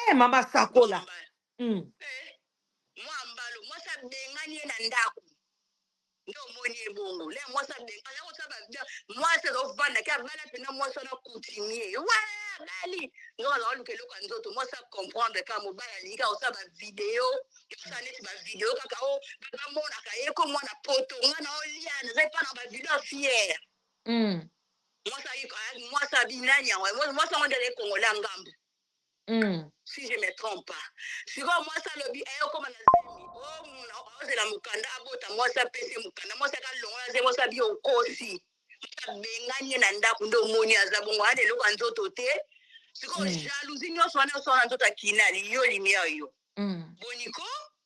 eh mama sakola mm. nde omoni ye bongo le mwasi abenga aza kotya babia mwasi azofanda ke abala mpena mwasi wana coutumier wa abali nzoka azaka luka eloko ya nzoto mwasi acomprendre kaka mobali alingi kaka kosala bavideo yosala neti bavideo kaka o oh, bamonaka ye ko mwana poto nga na oliana eza epa na bavideo ya fiere hmm. mwasi abi nani yango mwasi yango nde azali kongola ngambo hmm. si je me trompe pas sikoyo mwasi alobi eye eh, okoma na zemi ozela oh, mokanda abota mwasi apesi mokanda mwasi akalongola ze mwasi abi okosi abengani ye na ndako nde omoni aza bongo ana eloko ya nzoto te sikoyo hmm. jalousie nyonso wana osala na nzoto akinali yo limiere yo hmm. boniko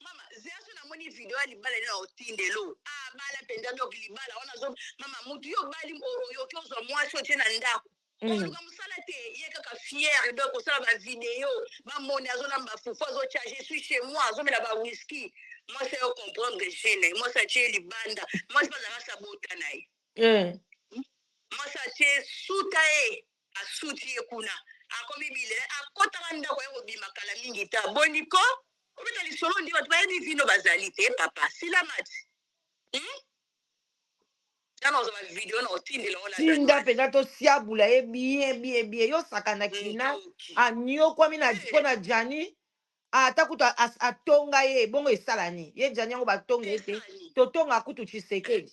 mama version namoni video ya libala nini otindelo abala ah, mpenza donc libala wana zo mama motu yo obali oyoki ozwa mwasi otie na ndako mm. oluka mosala te ye kaka fiere donc osala bavideo bamoni azolamba fufu azotia je suis chez moi azomela bawiski mwasi ayo comprendre gene mwasi atie libanda mwasi bazalaka sabota na ye eh. mwasi atie suta ye Ba suti ye kuna akomi bilele akota ba ndako aye kobima kala mingi ta boni ko kobeta lisolo ondi bato bayebi vino bazali te papa sila mati hmm? nano ozwa ba video na otindela ona tinda mpenza tosiabula ye bien bien bien yo sakana kina anyokwami na mpo na jani ata kutu atonga ye ebongo esalani ye jani yango batonga ye te totonga kutu tshisekedi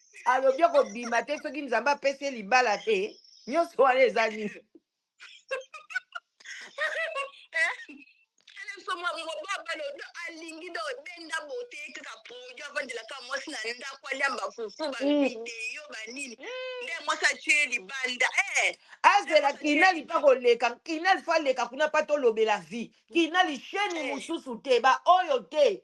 alobi akobima te soki nzambe apesi ye libala te nyonso wana eza nini alingi do benda bote kaka produit avandelaka mwasi na ndako aliamba fufu bavideo mm. banini mm. nde mwasi atie libanda eh. azela kinali mpa koleka kinali fa aleka kuna mpa tolobela vie kinali sheni eh. mosusu te baoyo te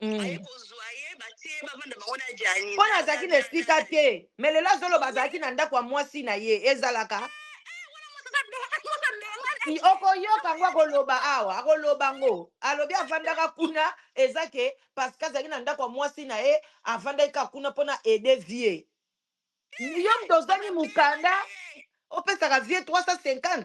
aye Mm. kozwa ye batie ye bavanda bango na jani mpo na- nazalaki na na- esika na- te me lelo azoloba azalaki na ndako ya mwasi na ye ezalaka I- okoyoka yango akoloba awa akoloba yango alobi avandaka kuna eza ke parce que azalaki na ndako ya mwasi na ye avandaki kaka kuna mpo na aide vie yo moto ozangi mokanda opesaka vie 350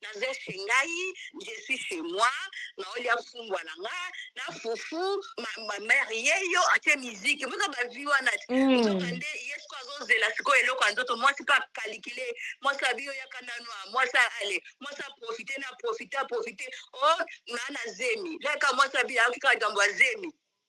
naza chez ngai je suis chez moi naolia fumbwa na nga na fufu ma, ma mère ye yo atie miziki moza bavi wana Mm. nzoka nde ye siko azozela sikoyo eloko ya nzoto mwasi mpe akalikile mwasi abi yo yaka nanu a mwasi ale mwasi aprofite na aprofite aprofite o naa na zemi laka mwasi abi ayoki kaka likambo ya zemi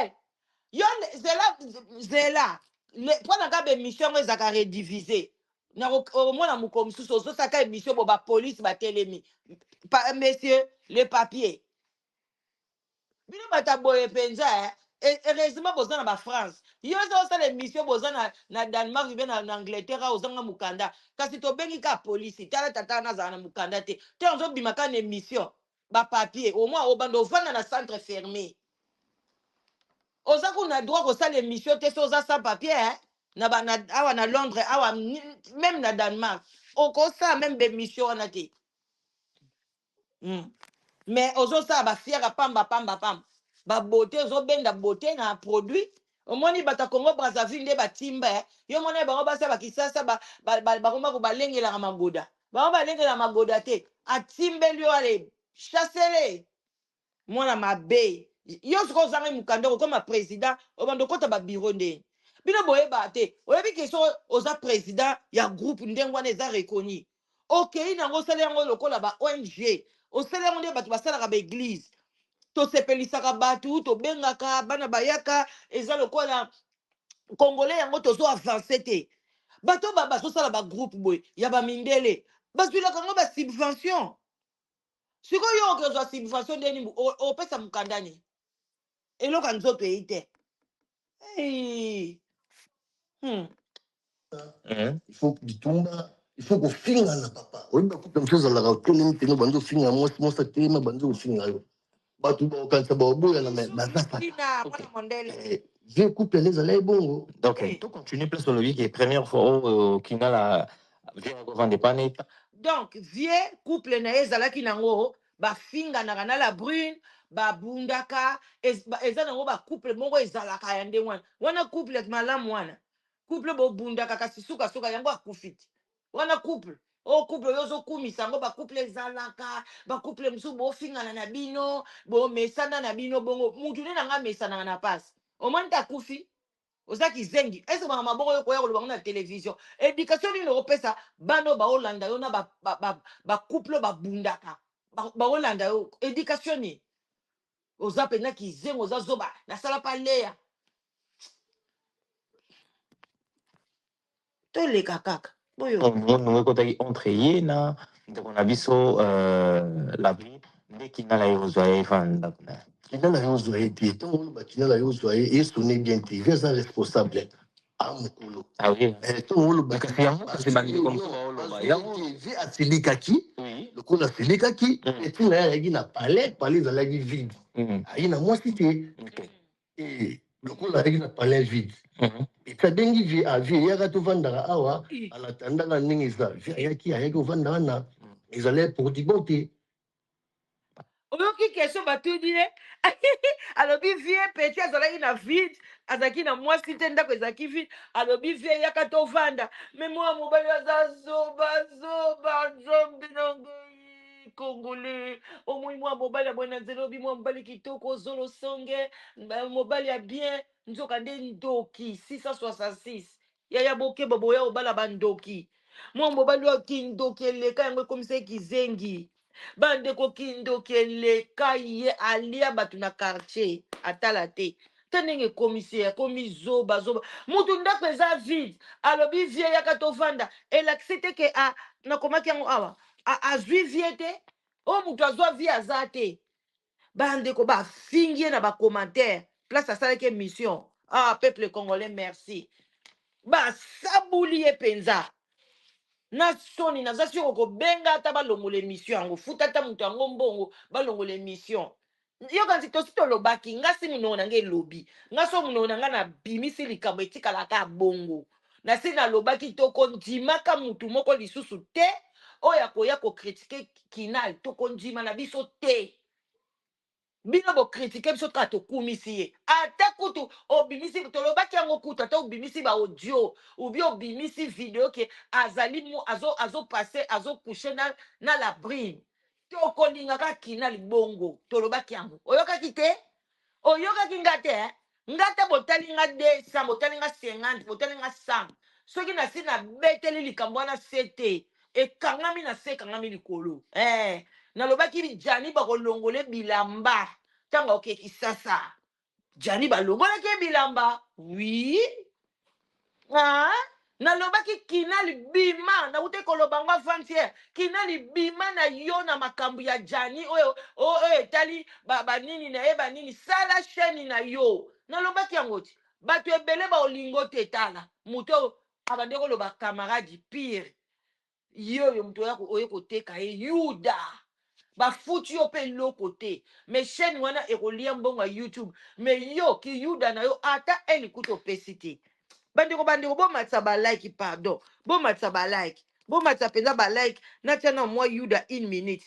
Eh, yo le- zela zela Le- mpo na kaka baemission yango ezalaka redivise nakomona mokolo mosusu ozosaka emission bo bapolice batelemi Pa- monsieur le papier bino bato ya boye mpenza eh. E- heureusement boza na bafrance yo oza osala emission boza na, na danemark mpe na, na angleterre awa ozanga mokanda kasi tobengi kaka polisi tala tata wana azala na mokanda te te ozobima kaka na emission ba papier au moins obanda ovanda na centre ferme oza kuna droit kosala emission te so oza sans papier hein? na, ba, na awa na londres awa même na danemark okosala meme bemission wana te mm. mais ozosala bafiaka pamba pamba pamba babote ozobenda bote na produit Omoni bato ya Congo Brazzaville nde ba timba eh. Yo mona bango basi ya ba Kisasa ba ba ba bango bako balengelaka magoda. Bango balengelaka magoda te. Atimbeli yo ale chassele. Mwana mabe. Yo sikoyo ozangai mukanda okokoma president obanda okota ba bureau nde bino boyebaka te oyebi ke soko oza president ya groupe ndenge wana eza reconnu okei na yango osali yango lokola ba ong osali yango nde bato basalaka baeglize tosepelisaka bato tobengaka bana bayaka eza lokola congolais yango tozo avance te bato ba bazosala bagroupe boye ya bamindele bazwilaka yango basubvention sikoyo yo okozwa subvention ndeni opesa mokanda nini eloko ya nzoto eyi te Hey. Hmm. Eh, il faut bitumba il faut kofingana papa oyebi bakupe mosusu ezalaka otelemi mpene obandi ofinga mwasi mwasi atelemi abandi ofinga yo bato bakokanisa baoboyana me baza kaka Tina, Ok. mwana mondele. Eh, vieux couple yango ezala ye bongo Donc, Oui. to continue place olobi ke première fois oyo kingala vieux akovanda epai na ye donc vieux couple na ye ezalaki nango bafinganaka na la brune babundaka ez- ba- eza nango bacouple moko ezalaka ya ndenge wana wana couple ya malamu wana couple bobundaka kasi sukasuka yango akufi te wana couple o couple oyo ozokumisa yango bacouple ezalaka bacouple mosusu bofingana na bino bomesana na bino bongo mutu nde na ngai amesanaka na pasi omoni te akufi oza kizengi ezobanga maboko yo koya koloba ngo na television education nini okopesa bana oyo baolanda yo na bacouple ba, ba, ba couple oyo babundaka Ba- baolanda yo education nini oza mpenza kizengi oza zoba nasala pa leya toleka kaka boyo nongo ekotaki entre ye na ndeko na biso euh, labri nde kindala ye ozwa ye efa ndako na ye kindala ye ozwa ye te ntango oloba kindala ye ozwa ye esone bien te vi aza responsable amokolo ah ah eh, ntango oloba vi asilikaki lokola asilikaki etina mm. ye ayaki na palais palais ezalaki vide mm. ayi na mwasi te Eh, lokola azalaki na palais vide mhm. ekabengi vie a vie eyaka tovandaka awa alatandaka ndenge eza vie ayaki ayaki kovanda wana mhm. ezala portibo te oyoki question batuni ye alobi vie peti azalaki na vide azalaki na mwasi te ndako ezalaki vide alobi vie eyaka tovanda me mwana mobali aza zoba zoba zombinango congolais omoni mwa mobali ya boye na nzela obi mwa mobali kitoko zolo songe ba- mobali ya bien nzoka nde ndoki 666 yaya bokeba boya obala bandoki mwa mobali oyo kindoki eleka yango ekomisa ye kizengi bandeko kindoki eleka ye alia bato na quartier atala te ta ndenge ekomisi ye akomi zoba zoba mutu ndako eza vide alobi vie yaka tovanda elakisi te ke a nakomaki yango awa azwi vie te oyo oh, mutu azwa vie aza te bandeko bafingi ye na bacommentaire place asalaki emission ah peuple congolais merci basabuli ye mpenza na soni naza siko kobenga ata balongola emission yango futa ata moto yango mbongo balongola emission yoka nzi tosi tolobaki nga si monoko na nga elobi nga so monoko na nga nabimisi likambo etikalaka bongo nasi nalobaki tokondimaka mutu moko lisusu te oyo akoya kokritike kinal tokondima na biso te bino bokritike biso kaka tokumisi ye ata kutu obimisi tolobaki yango kutu ata obimisi baaudio ubi obimisi video ke azali mu- azo azopase azokouche na, na labrine tokolinga kaka kinal bongo tolobaki yango oyokaki te oyokaki nga te eh? nga te botali nga 200 botali nga 50 botali nga 100 soki nasi nabeteli likambo wana se te ekangami na se ekangami likolo eh, nalobaki jani bakolongole bilamba ntango aoke kisasa Djani balongolaki ye bilamba. Oui. Ah, nalobaki kinal bima nakutaki koloba ngo avant hier kinal bima na yo na makambo ya jani oyo oyo etali banini na ye banini sala chaine na yo nalobaki yango ti bato ebele baolingo te tala moto abandi koloba camarade pire ye oyo moto oya ko- oye koteka ye yuda bafuti yo mpe eloko te me chaîne wana ekolia mbongo ya youtube me yo kiyuda na yo ata un likuta opesi te bandeko bandeko bomatisa balike pardon bomatisa balike bomatisa mpenza balike natia na mwa yuda une minute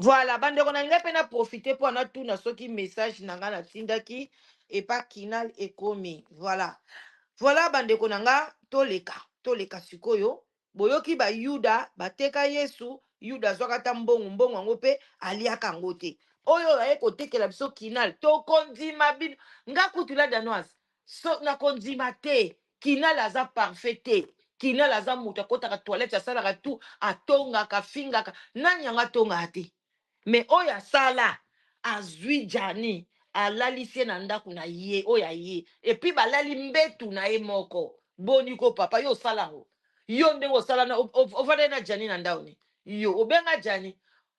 Voilà, bandeko na ngai pe na profiter po na tuna soki message na ngai na tindaki epa kinal ekomi. Voilà. Voilà bandeko na ngai toleka, toleka sikoyo. Boyoki ba Yuda bateka Yesu, Yuda azwaka ata mbongo, mbongo yango pe aliaka yango te. Oyo aye kotekela biso kinal, tokondima bino. Nga kutu la danoise, so nakondima te. Kinal aza parfait te. Kinal aza mutu akotaka toilette asalaka tout atongaka afingaka nani yango atongaka te mais oyo asala azui djani alalisi ye na ndaku na ye oyo aye epuis balali mbetu na ye moko boni ko papa yo osala yango yo ndenge osala na o- o- ovandaki na djani na ndao ni yo obenga djani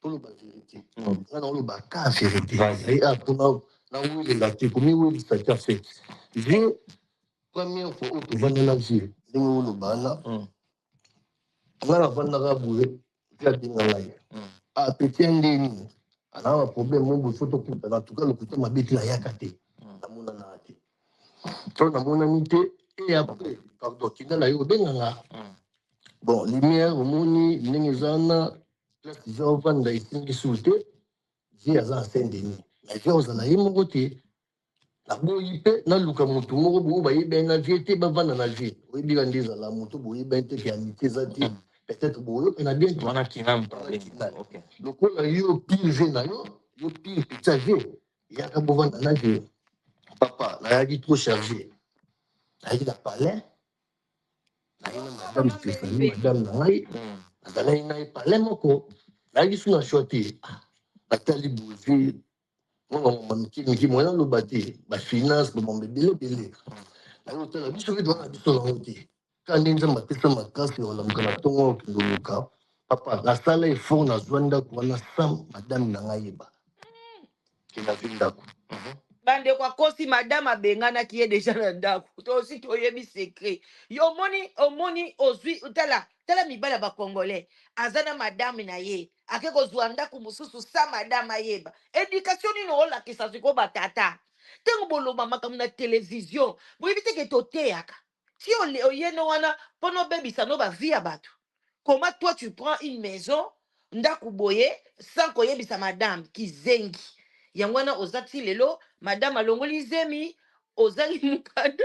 toloba verite mm. nga naoloba ka verite ah, pona nawelela te komiwelisa te afet je première fois oyo tovandela je ndenge oloba wana mm. nga navandaka boye mpe abenga ngai mm. apeti ah, ya ndenge nini anaa baproblème mo boye fo tokutana tuka lokuta mabe te nayaka te namonanaka te Tona monani te et après pardon tinda na yo obenga nga hmm. bon lumière omoni ndenge eza wana place eza ovanda esimbi sur te vie aza na saint denis na vie ozala ye moko te naboyi mpe naluka motu moko boyo bayebani na vie te bavanda na vie oyebika nde ezala moto boyebani te ke amitié eza te hmm. peut-être boyokana bien lokola yo pire vie na yo yo pire pizza vie yaka bovanda na je papa nayaki trop charge nayaki na palais naye na madame stéphanie madame na ngai nazalaki na ye palais moko nayaki su na shwa te natali boze mwana mama mike mike moye naloba te bafinance bamama ebele ebele naye otala biso mpe twana biso nango te Kani nzambe apesa makasi ya kolamuka na ntongo oyo kindoluka papa nasala effort nazwa ndako wana sam madame na ngai yeba ke nazwi ndako Mhm. bandeko akosi madame abenganaki ye deja na ndako tosi toyebi secret yo omoni omoni ozwi tala tala mibali ya bacongolais aza na madame na ye ake kozwa ndako mosusu sa madame ayeba edikatio nini olakisa sikoyo batata ntango boloba makambo na televizio boyebi teke toteyaka si oye no wana mpo nobebisa no bavie ya bato comment toi tu prends une maison ndako boye sans koyebisa madame kizengi yango wana oza ti lelo madame alongoli zemi ozangi mokanda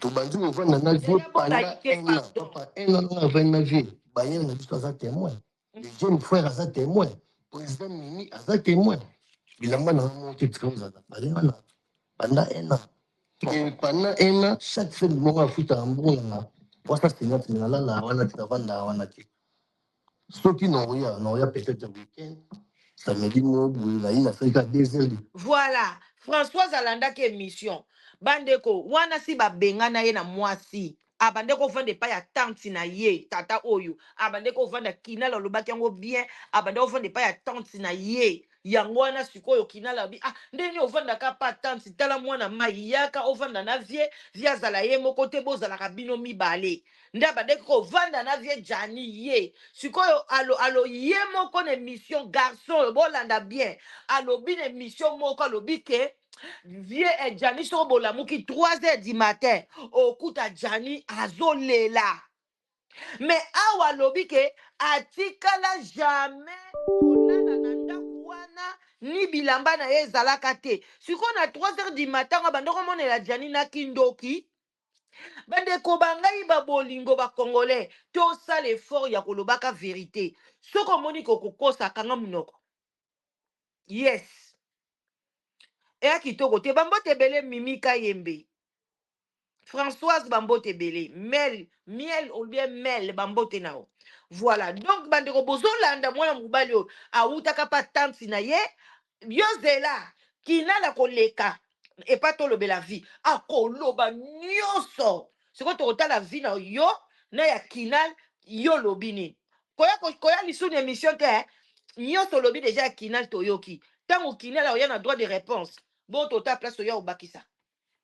tobandi kovanda na vie panda un an papa un an nanga avandi na vie baye na biso aza témoin le jeune frère aza témoin président mimi aza témoin bilamba na yango moko te tika ozala baye wana panda un an Et panda un an chaque semaine moko afutaka mbongo na wasa singa singa lala wana te avanda wana te Soki na oya, na oya peut-être week-end, samedi moko boye na ye na sali kaka deux heures de Voilà, Françoise alandaki emission. Bandeko, wana si babengana ye na mwasi, abande kovanda epai ya tante na ye, tata oyo, abande kovanda kinal alobaki yango bien, abande kovanda epai ya tante na ye, Yango wana sikoyo kinala alobi ah ndenge nini ovanda ka pa tante tala mwana mai yaka ovanda na vie vie azala ye moko te bozalaka bino mibale nde abandaki kovanda na vie jani ye sikoyo alo alo ye moko na emission garçon oyo bolanda bien alobi na emission moko alobi ke vie eh, jani soko bolamuki 3 heures du matin okuta jani azolela mais awa alobi ke atikala jamais kolala na ndako wana ni bilamba na ye ezalaka te sikoyo na 3 heures du matin ngo abanda komonela jani na kindoki bandeko ba ngai babolingo bacongolais tosala effort ya kolobaka verite soki omoni kokokosa kanga monoko yes eya kitoko te bambote ebele mimi kayembe Françoise bambote ebele mel miel ou bien mel bambote na yo voilà donc bandeko bozolanda mwana mobali oyo awutaka pa tante na ye yo zela kinala koleka epa tolobela vie akoloba nyonso sikoyo tokotala vie na yo na ya kinal yo olobi nini koya ko- koya lisusu na émission te eh? nyonso olobi deja ya kinal toyoki ntango kinal akoya na droit de réponse bo tota place oya obakisa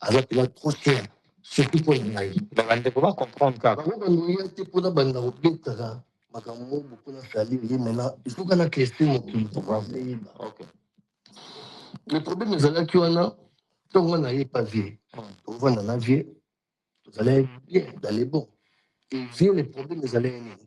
Aza pena trop cher surtout mpo na ngai. Bandeko ba comprendre kaka. Bango bandoya te mpo na banda kobetaka makambo boko na salir ye mena ezoka na klese mokili eyeba. Le problème ezalaki wana ntongo nga naye pa vie tovanda na vie tozalaki bien dans le bon et vie le problème ezalaki nini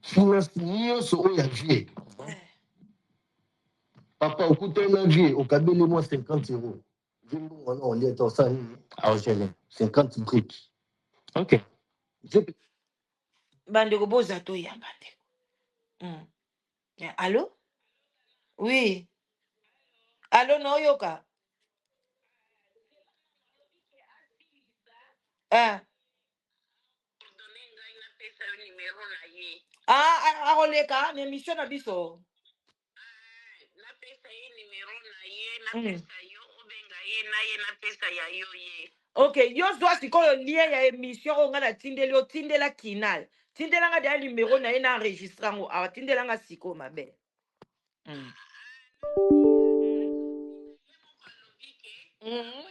finance nyonso oyo ya vie papa okutani na vie okabeli mwa 50 euro vie mbongo wana olia ta osala nini aogele 50 brick ok bandeko boza toyamba ndeko mm. alo wi alo naoyoka ah. Ah, ah, ah, akoleka na émission na biso Mm. ok yo zwa sikoyo lien ya émission oyo ngai natindeli yo tindela kinal tindela ngai deya numero na ye na enregistre yango awa tindela ngai sikoyo mabele Mm. Mm.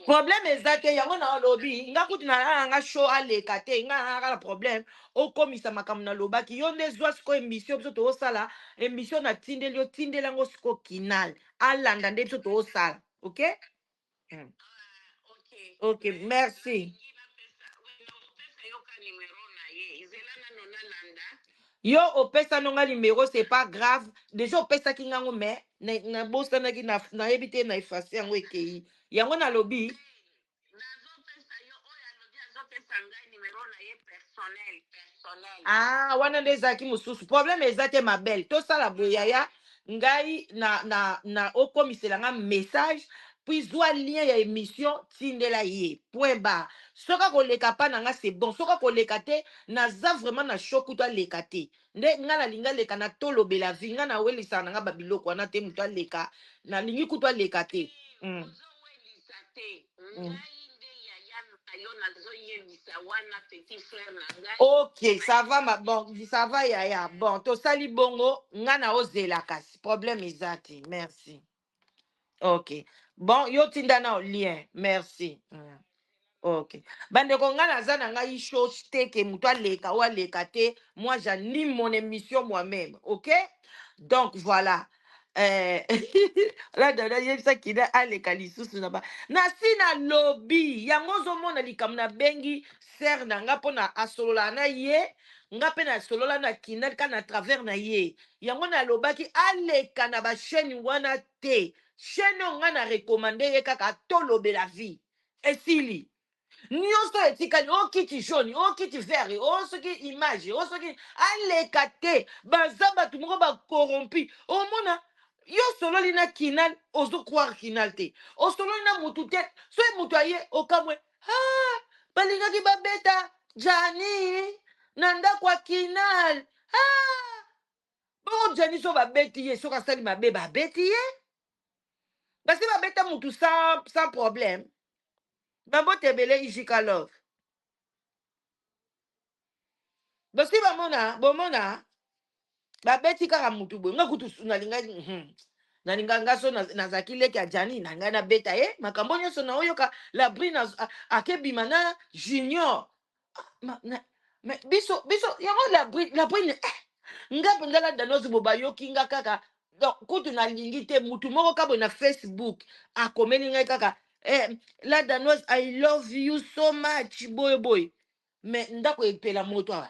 problème eza te yango na olobi nga kutu nalala nga show aleka te nga nalaka na problème okomisa makambo nalobaki yo nde zwa siko émission biso toosala émission natindeli yo tindeli yango siko kinal alanda nde biso toosala ok Hmm. Ok, merci. yo opesano nga numero c'est pas grave déjà opesaki nga yango mais nabosanaki nayebi te na efase yango ekei yango nalobi ah wana nde ezalaki mosusu problème eza te ma belle tosala boyaya ah, ngai na na na okomisela nga message puis zwa lien ya emission tindela ye point bar soki akoleka pa na nga c'est bon soki akoleka te naza vraiment na choc kutu aleka te nde nga nalingi aleka na tolobela vie nga nawelisaka na nga ba biloko wana te moto aleka nalingi kutu aleka te mm. Ngai nde yaya na yo nazo yebisa wana petit frère na ngai. Ok, ça va ma bon, ça va yaya. Bon, tosali bongo, nga na ozela kasi problème eza te. Merci. Ok. Bon, yo tinda na lien. Merci. Mm. Ok. Bandeko nga naza na ngai chose te ke moto aleka ou aleka te. Moi j'anime mon émission moi-même. Ok? Donc voilà. Eh, la dada yebisaki na aleka lisusu na ba nasi nalobi yango ozomona likambo nabengi sere na nga mpo na asololaka na ye nga mpe nasolola na kinalika na travers na ye yango nalobaki aleka na bachaine wana te chaine oyo nga na recommande ye kaka tolobela vie esili nionso oyo etikali o kiti jaune o kiti vert o soki image o soki aleka te baza bato moko ba corrompu omona yo osololi na kinal ozo croire kinal te osololi na mutu te soki mutu aye okamwe ah, balingaki babeta jani na ndako ya kinal ah, bongo jani so babeti ye soki asali mabe babeti ye Parce que babeta mutu sans, sans problème. Bambote ebele Ijika Love. Bosi bamona, bomona, babeti kaka mutu boye. Nga kutu nalinga, hmm. nalinga nga so naz- nazalaki leki ya jani na ngai nabeta ye makambo nyonso naoyoka labri akebima na junior Ah, ma- na- mais biso biso yango la brune la brune eh, nga mpenza la danoise bo bayoki nga kaka donc kutu nalingi te mutu moko kaka boye na facebook akomeli ngai kaka eh, la danoise i love you so much boye boye mais ndako epela moto awa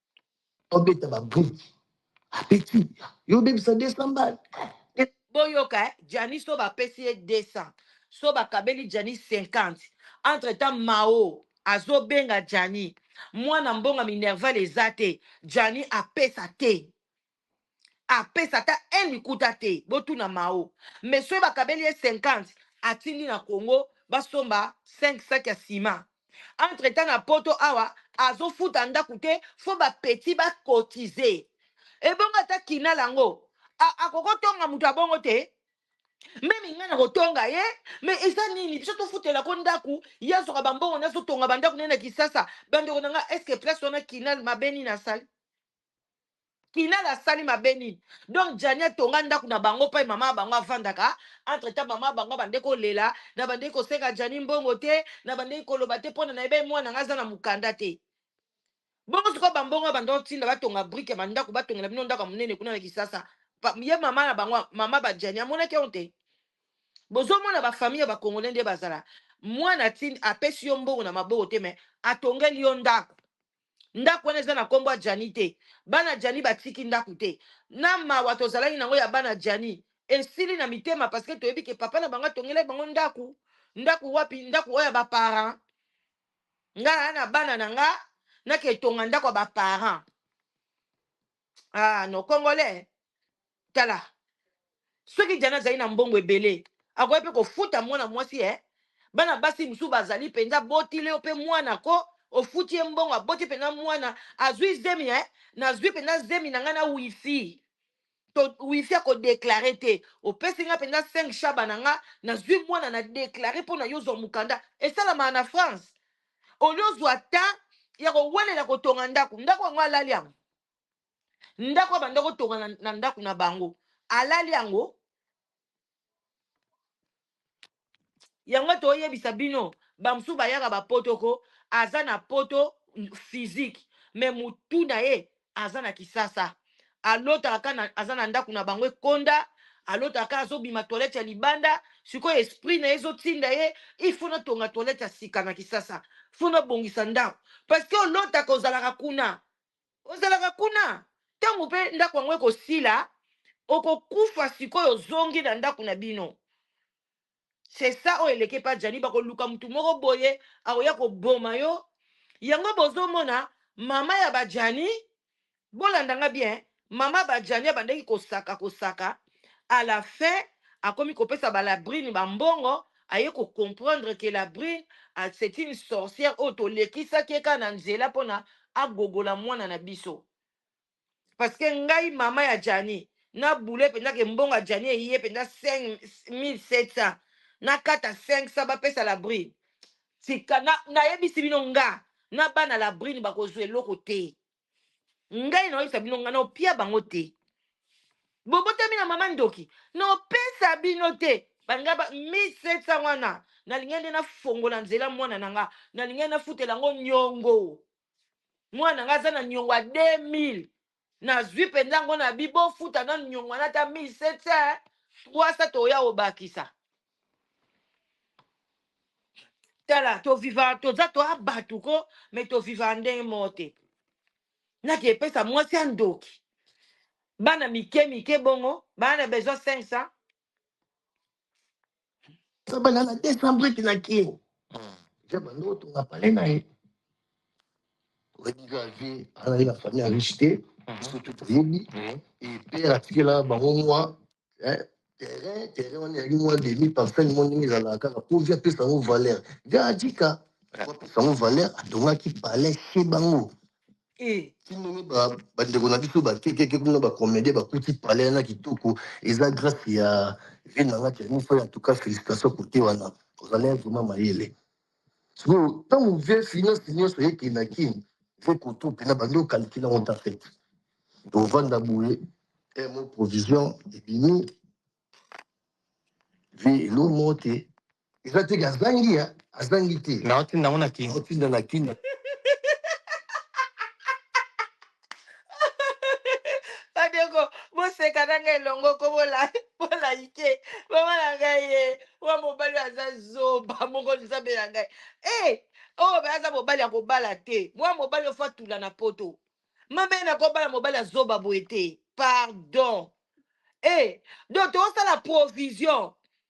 obeta ba brique apeti yo obebisa 200 mbala boyoka eh? jani so bapesi ye 200 so bakabeli jani 50 entre temps mao azobenga jani mwana mbonga minerval eza te jani apesa te apesa ata un likuta te botuna mao mais soki bakabeli ye 50 atindi na congo basomba 5 sac ya ciment entre temps na poto awa azofuta ndaku te fo ba petit ba cotise ebongo ata kinala yango a- akoki kotonga moto ya bongo te meme ngai nakotonga ye me eza nini biso tofutela ko ndako ye azwaka bambongo nde azotonga bandako nde na kisasa bandeko na ngai eske place wana kinal mabe nini asali kinal asali mabe nini donc jani atonga ndako na bango mpe mama ya bango avandaka entre temps mama ya bango abandeki kolela na bandeki kosenga jani mbongo te na bandeki koloba te mpona nayebi ye mwana ngai aza na mokanda te bongo sikoyo bambongo ya bandako ntinda batonga brike ya bandako batongela bino ndako ya monene kuna na kisasa Pa- ye mama na bango mama bajani amonaki yango te bozomona bafamille ya bakongole nde bazala mwana tindi apesi yo mbongo na maboko te me atongeli yo ndako ndako wana eza na nkombo ya jani te bana jani batiki ndako te na mawa tozalaki nango ya bana jani esili na mitema parce que toyebi ke papa na bango atongelaki bango ndako ndako wapi ndako oyo ya baparent nga naa na bana na nga nake etonga ndako ya baparent ah no congolais tala soki jana azali na mbongo ebele akoki mpe kofuta mwana mwasi e bana basi mosusu bazali mpenza botile yo mpe mwana ko ofuti ye mbongo aboti mpenza mwana azwi zemi e nazwi mpenza zemi na ngai na wifi to wifi akodeklare te opesi ngai mpenza 5 shaba na ngai nazwi mwana na deklare mpo na yo zwa mokanda esalamaka na france olio ozwa ta ya kowelela kotonga ndako ndako yango alali yango ndako abanda kotonga na, na ndako na bango alali yango yango toyebisa bino bamosusu bayaka bapoto ko aza na poto physique me motu na ye aza na kisasa alotaka ka na- aza na ndako na bango ekonda alotaka ka azobima toilette ya libanda sikoyo esprit na ye ezotinda ye ifo natonga toilette ya sika na kisasa fo nabongisa ndako parce que olotaka ozalaka kuna ozalaka kuna ntango mpe ndako yango ekosila okokufa sikoyo ozongi na ndako na bino c'est ça oyo eleki epa jani bakoluka motu moko boye akoya koboma yo yango bozomona mama ya bajani bolanda nga bien mama bajani abandaki kosaka kosaka à la fin akomi kopesa ba labrine ba mbongo aye ko comprendre que labrine ah, c'est une sorcière oyo tolekisaki ye kaka na nzela mpona agogola mwana na biso parce que ngai mama ya jani na boule mpenza ke mbongo ya jani eye mpenza 5700 nakata 500 bapesa labrine tika na- nayebisi bino nga na bana labrine bakozwa eloko te ngai naoyebisa bino ngai naopia bango te bobotami na mama ndoki naopesa bino te balingai ba 1700 wana nalingai nde nafongola nzela mwana na nga nalingai nafutela yango nyongo mwana na nga aza na nyongo ya 2000 nazwi mpenza yango na bi bofuta nanu nyongo wana ata 1700 300 toya obakisa tala toviva toza toa bato ko me toviva ndenge moko te naki epesa mwasi ya ndoki bana mike mike bongo bana na besoin 500 sabana na 200 briki na kin jaba ndotonga pale na ye oyebi kaka te azali na famille ya riche te biso tu toyebi epere atikela bango mwa terrain terrain wana ezali mwa demi parcelle mwa ndenge ezalaka kaka mpo vi apesa yango valeur vi atika apesa yango valeur atongaki palais chez bango ti ndenge bandeko na biso bakekeke kuna bacomédien bakuti palais wana kitoko eza grâce ya vie na nga tianifo ya tuka félicitation kote wana ozali vraiment mayele sikoyo ntango vie finance nyonso eke na kin vie koto mpena bandi okalikile yango ta fete tovanda boye mo provision ebimi vie elo moko te eza teke azangi ya azangi te naotinda yango na kin otinda na kin bandeko boseka na ngai elongo ko bolaike mama na ngai ye wa mobali oyo aza zoba moko nzambe na ngai e oyo oh, aza mobali ya kobala te mwa mobali ofo atula na poto mama ye nakobala mobali ya zoba boye te pardon e eh, donc tosala provision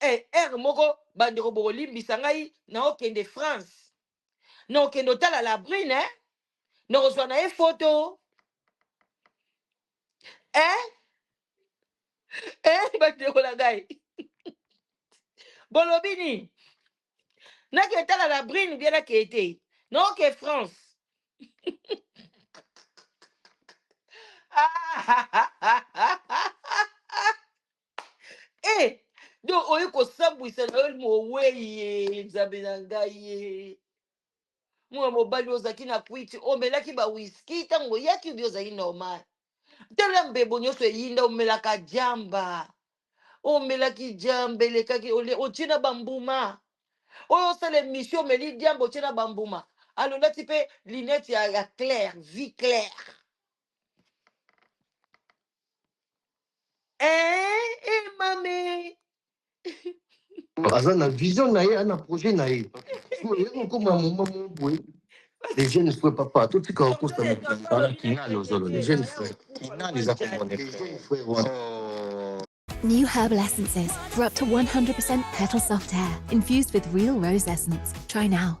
e heure moko bandeko bokolimbisa ngai naokende france nakokende otala la brune eh? nakozwa na ye foto eh? eh, bandeko na ngai bolobi nini nake etala la brune bie nake ete naoke france e do oye kosambwisa na yo moweye nzambe na ngai ye mwana mobali ozalaki na kwiti omelaki bawiski ntango oyaki obi ozalaki normal tala mbebo nyonso eyinda omelaka jamba omelaki jamba elekaki ole- otie na bambuma oyo osala emission omeli diamba otie na bambuma alolati mpe linete ya, ya claire vie claire aza na vision na ye ana projet na ye oye kokoma moma mo boye les jeunes frères papa totika okosa kinani ozolo les jeunes frères kinani eza komone frère wana New herbal essences for up to 100% petal soft hair, infused with real rose essence. Try now.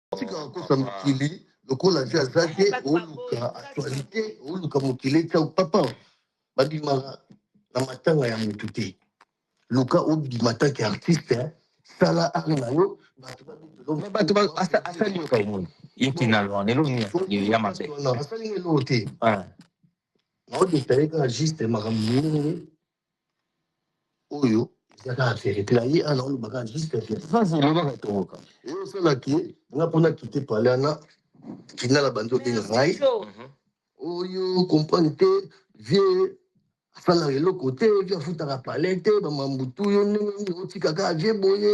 tika kokosa mokili lokola vi aza te oluka actualité oluka mokili etya papa babima na matanga ya motu te luka obima tanke artiste hein. sala ari na yo bato babetelo bato ba- asa- asali yo kaka omoni ye kinalo wana eloko nini asali ya mabe asali nga eloko te naodetaye kaka juste makambo mingi oyo eza kaka verite na ye ana oloba kaka juste verite sasa elobaka tokoka eye osala ke nga mpo nakite pale ana kinala bandi obenga ngai mhm. oyo comprendre te vie asalaka eloko te vie afutaka pale te bamambutu yo ndenge otikaka vie boye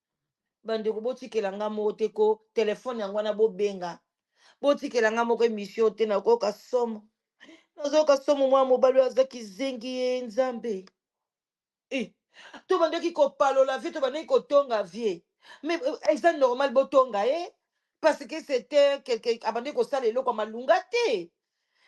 bandeko botikela nga moko te ko telefone yango wana bobenga botikela nga moko emission te nakoyoka somo nazoyoka somo mwana mobali oyo aza kizengi ye nzambe Eh, tobandaki kopalola vie tobandaki kotonga vie mais euh, eza normal botonga ye parce que c'était quelque abandaki kosala eloko ya malunga te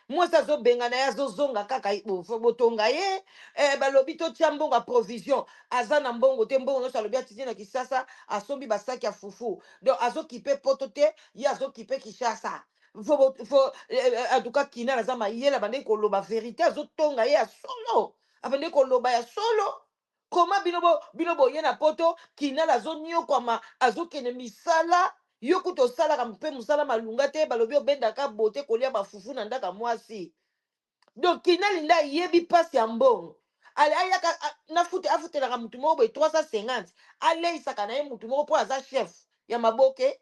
mwasi azobengana ye azozonga kaka ye, bo- fo- botonga ye eh, balobi totya mbongo ya provision aza na mbongo te mbongo nyonso alobi atindi na kinshasa asombi basaki ya fufu donc azokipe poto te ye azokipe kinshasa fo, bo- fo, eh, eh, en tout cas kinal aza mayele abandaki koloba verité azotonga ye ya solo abandaki koloba ya solo koma bino bo bino boye na poto kinal azoniokwama azokende misala yo kutu osalaka mpe mosala malunga te balobi obendaka bote kolia bafufu na ndaka mwasi donc kinali nde ayebi mpasi ya mbongo Ale- ayaka a- nafute afutelaka motu moko boye 350 aleisaka na ye motu moko mpo aza chef ya maboke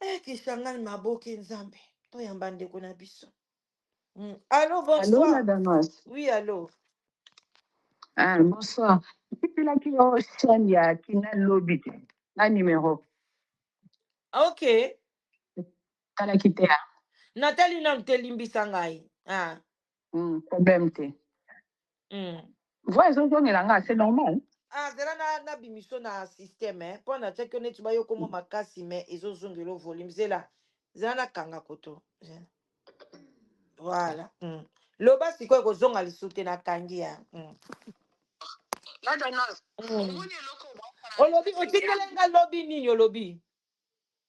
Eh, Kisangani maboke nzambe toyamba ndeko na biso mm. alo Allô, bonsoir la Damas. oui alo Ah, bonsoir. Napelaki yo chaîne ya Kina Lobi te. Na numéro. ok Talaki te. ah. natali nanu te limbisa ngai ah. Hmm, problème te. Hmm. Voix ezozongela nga, c'est normal. Ah, zela na na bimiso na système hein. Mpo na tiaki yo neti bayoko mwa makasi mais ezozongela yo volume. Zela. Zela na kanga koto. Zela. Voilà. Hmm. Loba sikoyo ekozonga lisusu te na kangi ya. Hmm. Hmm. Olobi otikele nga lobi nini olobi?